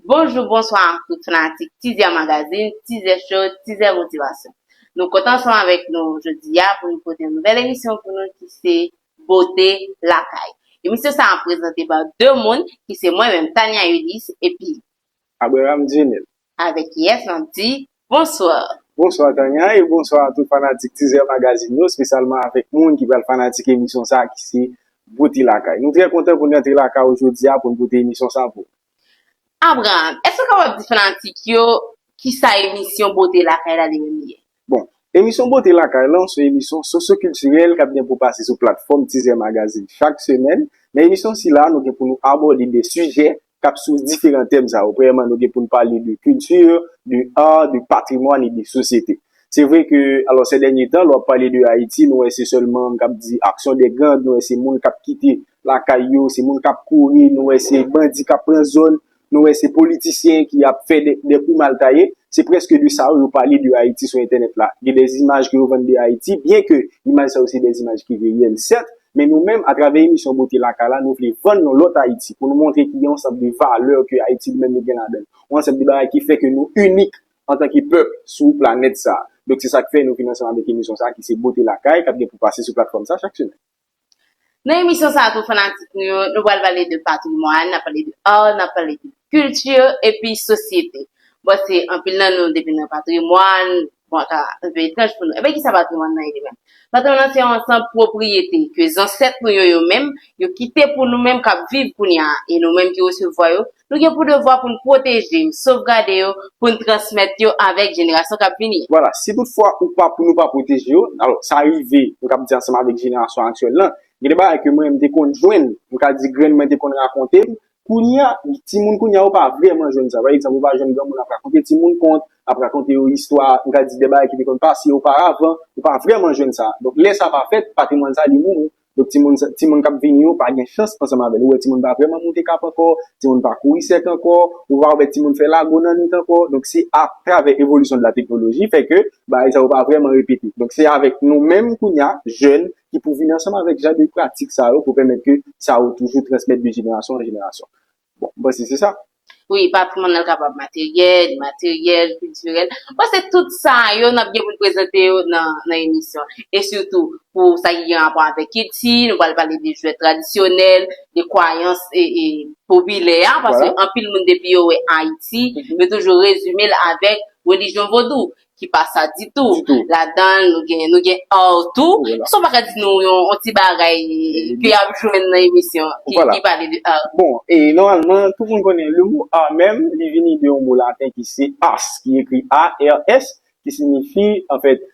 Bonjou, bonswa ak tout fanatik Tizè Magazine, Tizè Show, Tizè Motivasyon. Nou kontan ansanm avèk nou jodi a pou nou pote yon nouvèl emisyon pou nou ki se Bote Lakay. Emisyon sa a prezante pa 2 moun ki se mwen menm Tania Ulysse epi. Abraham Djinil. Avèk kiyès nap di bonsoir? Bonswa Tania e bonswa a tout fanatik Tizè Magazine yo, spesyalman avèk moun ki pral fanatik emisyon sa ki se Bwote Lakay. Nou trè kontan pou n rantre lakay ou jodi a pou n pote emisyon sa pou. Abraham, èske w kapab di fanatik yo kisa emisyon Bwote Lakay la li menm li ye? Bon, emisyon Bote Lakay lan se emisyon sosyokiltirèl k ap gen pou pase sou platfòm Tizè Magazin chak semèn. Nan emisyon sila, nou gen pou nou abòde de sijè k ap sou diferan tèm sa yo. Premyèman, nou gen pou n pale de kilti, de ar, de patrimwàn e de sosyete. Se vre ke, alò sè dènye tan, lè w ap pale de Ayiti, nou wè se sèlman k ap di aksyon de gang, nou wè se moun k ap kite lakay yo, se moun k ap kouri, nou wè se bandi k ap pran zòn. Nou wè se politisyen ki ap fè de kou mal taye, se prèske de sa yo yo pale de Ayiti sou entènèt la. Gen de imaj ke yo vann de Ayiti, byen ke imaj sa yo se de imaj ki reyèl sèt, men nou menm a travè emisyon Bote Lakay la nou vle vann yon lòt Ayiti, pou nou montre ki gen yon ansanm de valè ke Ayiti li menm li gen ladan l. Yon ansanm de bagay ki fè ke nou inik antanke pèp sou planèt sa. Donk se sa k fè nou vin ansanm avèk emisyon sa ki se Bote Lakay k ap gen pou pase sou platfòm sa chak semèn. Nan emisyon sa pou fanatik nou yo, nou pral pale de patrimwàn, nap pale de art, nap pale de culture epi sosyete. Bon se anpil nan nou depi nan patrimwàn, bon ta anpe etranj pou nou. Enben kisa patrimwàn nan ye li menm? Patrimwàn nan se yon ansanb pwopriyete ke zansèt nou yo yo menm yo kite pou nou menm kap viv kounya e nou menm ki resevwa yo Nou gen pou devwa pou n pwoteje yo, sovgade yo, pou n transmèt yo avèk jenerasyon k ap vini. Vwala, si tout fwa ou pa pou nou pa pwoteje yo, alò sa rive, m kab di ansanm avèk jenerasyon aktyèl lan, gen de bagay ke mwen m te konn jwenn, m ka di grann mwen te konn rakonte m, kounye a, timoun kounye a yo pa vrèman jwenn sa. Pa egzanp, ou pa jwenn granmoun ap rakonte timoun kont, ap rakonte yo istwa, m ka di de bagay ki te konn pase oparavan, ou pa vrèman jwenn sa. Donk lè sa pa fèt, patrimwàn sa li mouri. Donk timoun sa, timoun k ap vini yo pa gen chans ansanm avè l. Ou wè timoun pa vrèman moute kap ankò, timoun pa kouri sèk ankò, ou pa wè timoun fè lago nan nwit ankò. Donk se a travè evolisyon de la teknoloji fè ke bagay sa yo pa vrèman repete. Donk se avèk nou menm kounye a, jèn, ki pou vini ansanm avèk jan de pratik sa yo pou pèmèt ke sa yo toujou transmèt de jenerasyon an jenerasyon. Bon, m panse se sa. Wi, patrimwàn nan kapab materyèl, imateryèl, kiltirèl. M panse tout sa yo n ap gen pou n prezante yo nan emisyon an. E sitou pou sa ki gen rapò avèk kilti, nou pral pale de jwèt tradisyonèl, de kwayans popilè a, paske anpil moun depi yo wè Ayiti, yo toujou rezime l avèk relijyon vodou. ki pa sa ditou. Ladan l, nou gen ar tou. Èske w pa ka di nou yon ti bagay ke y ap jwenn nan emisyon an ki pale de ar? Bon, nòmalman, tout moun konnen lemo ar menm, li vini de yon mo laten ki se ars, ki ekri ARS, ki sinifi, anfèt,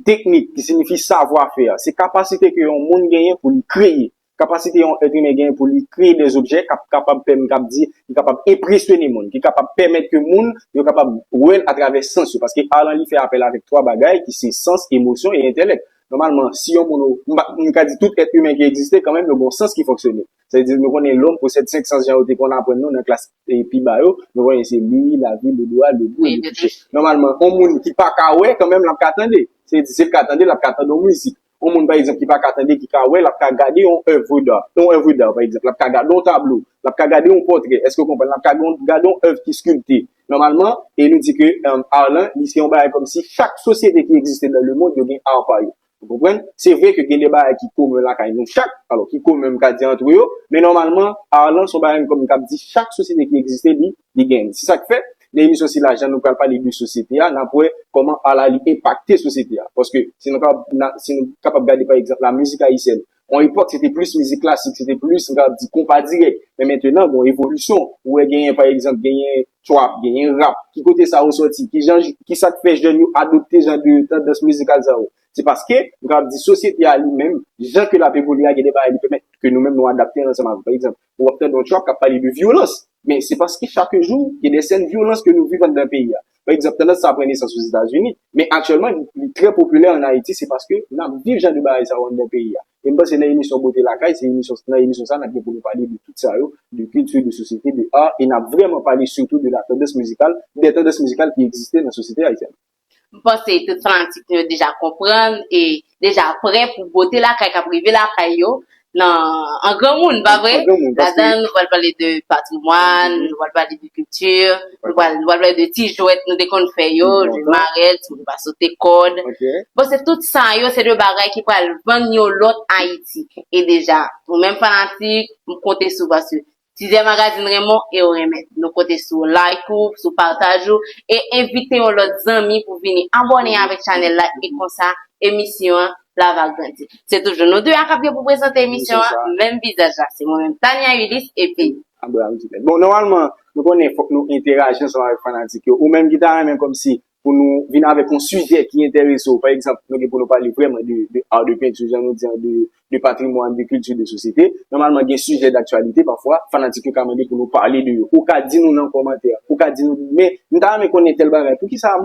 teknik, ki sinifi savwa fè. Se kapasite ke yon moun genyen pou li kreye. Kapasite yon èt imen genyen pou li kreye de objè k ap kapab pèm k ap di ki kapab enpresyone moun, ki kapab pèmèt ke moun yo kapab wè l atravè sans yo. Paske ar lan li fè apèl avèk twa bagay ki se sans, emosyon e entèlèk. Nòmalman, si yon moun, m pa, m ka di tout èt imen ki egziste kanmenm yo gon sans ki fonksyone. Sa vle di nou konnen lòm posèd senk sans jan yo te konn aprann nou nan klas pi ba yo. Nou konnen se li, lavi, lodwa, legou e letouche. Nòmalman, yon moun ki pa ka wè kanmenm l ap ka tande. Se vle di si l ka tande l ap ka tande yon mizik. Yon moun pa egzanp ki pa ka tande, ki ka wè, l ap ka gade yon oeuvre d'art, yon oeuvre d'art pa egzanp, l ap ka gade yon tablo, l ap ka gade yon pòtrè, èske ou konprann, l ap ka gade yon oeuvre ki sculpte. Nòmalman, e nou di ke art lan, li se yon bagay kòm si chak sosyete ki egziste nan le mond yo gen art pa yo. Ou konprann? Se vre ke gen de bagay ki komen lakay nou chak, alò ki komen m ka di antre yo, men nòmalman art lan se yon bagay kòm m kab di chak sosyete ki egziste li li gen. Se sa k fè, nan emisyon sila, jan nou pral pale de sosyete a, n ap wè kòman a la li enpakte sosyete a. Paske, si nou kapab gade pa egzanp lamizik ayisyèn, yon epòk se te plis mizik klasik, se te plis nou kapab di konpa dirèk. Men mentenan, gen yon evolisyon. Ou wè genyen pa egzanp, genyen trap, genyen rap. Ki kote sa yo soti? Ki jan, ki sa k fè jèn yo adopte jan de tandans mizikal sa yo? Se paske, nou kapab di sosyete a li menm, jan ke l ap evolye a, gen de bagay li pèmèt ke nou menm nou adapte ansanm avè l. Pa egzanp, Ou ap tande yon track kap pale de vyolans. Men se paske chak jou gen de sèn vyolans ke nou viv anndan peyi a. Pa egzanp, tandans sa a pran nesans Ozetazini, men aktyèlman li trè popilè ann Ayiti se paske nap viv jan de bagay sa yo anndan peyi a. E m panse nan emisyon Bote Lakay, se emisyon, nan emisyon sa a nap gen pou nou pale de tout sa yo, de kilti, de sosyete, de art, e nap vrèman pale sitou de la tendance musicale, des tendances musicales ki egziste nan sosyete ayisyèn. M panse tout fanatik nou yo deja konprann e deja prè pou bote lakay k ap rive lakay yo nan an granmoun, pa vre? Ladan l, nou pral pale de patrimwàn, nou pral pale de kilti, nou pral pale de ti jwèt nou te konn fè yo, jwe marèt, moun pa sote kòd. Bon, se tout sa yo se de bagay ki pral vann yon lòt Ayiti. E deja, nou menm fanatik, m konte sou paske Tizè Magazine renmen w e yo renmen Nou konte sou like ou, sou pataj ou e envite yon lòt zanmi pou vini abòne avèk chanèl la e konsa emisyon an la va grandi. Se toujou nou 2 a kap gen pou prezante emisyon an, menm vizaj la se mwen menm Tania Ulysse epi. Abraham Duclaire. Bon nòmalman nou konnen fòk nou enteraji ansanm avèk fanatik yo. Ou menm ki ta renmen kòmsi pou nou vin avèk yon sijè ki enterese w, pa egzanp, nou gen pou nou pale vrèman de ar, de penti, jan nou di an, de patrimwàn, de kilti, de sosyete, nòmalman gen sijè daktyalite pafwa, fanatik yo ka mande pou nou pale de yo. Ou ka di nou nan kòmantè, ou ka di nou, men, m ta renmen konnen tèl bagay, pou ki sa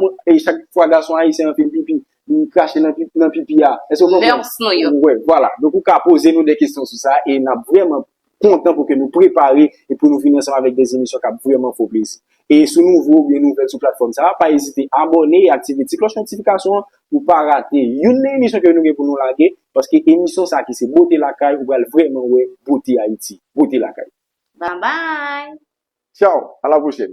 chak fwa gason ayisyen an fè pipi, li krache nan pipi a? Èske w konprann? Mœurs nou yo. Wè, vwala. Donk ou ka poze nou de kesyon sou sa e n ap vrèman. kontan pou ke nou prepare e pou nou vini ansanm avèk des emisyon kap vrèman fè w plezi. E si w nouvo oubyen nouvèl sou platfòm sa a, pa ezite abòne e aktive ti klòch notifikasyon an pou w pa rate youn nan emisyon ke nou gen pou nou lage paske emisyon sa a ki se Bote Lakay ou pral vrèman wè bote Ayiti. Bote Lakay. Babay! Tchao a la pwochèn.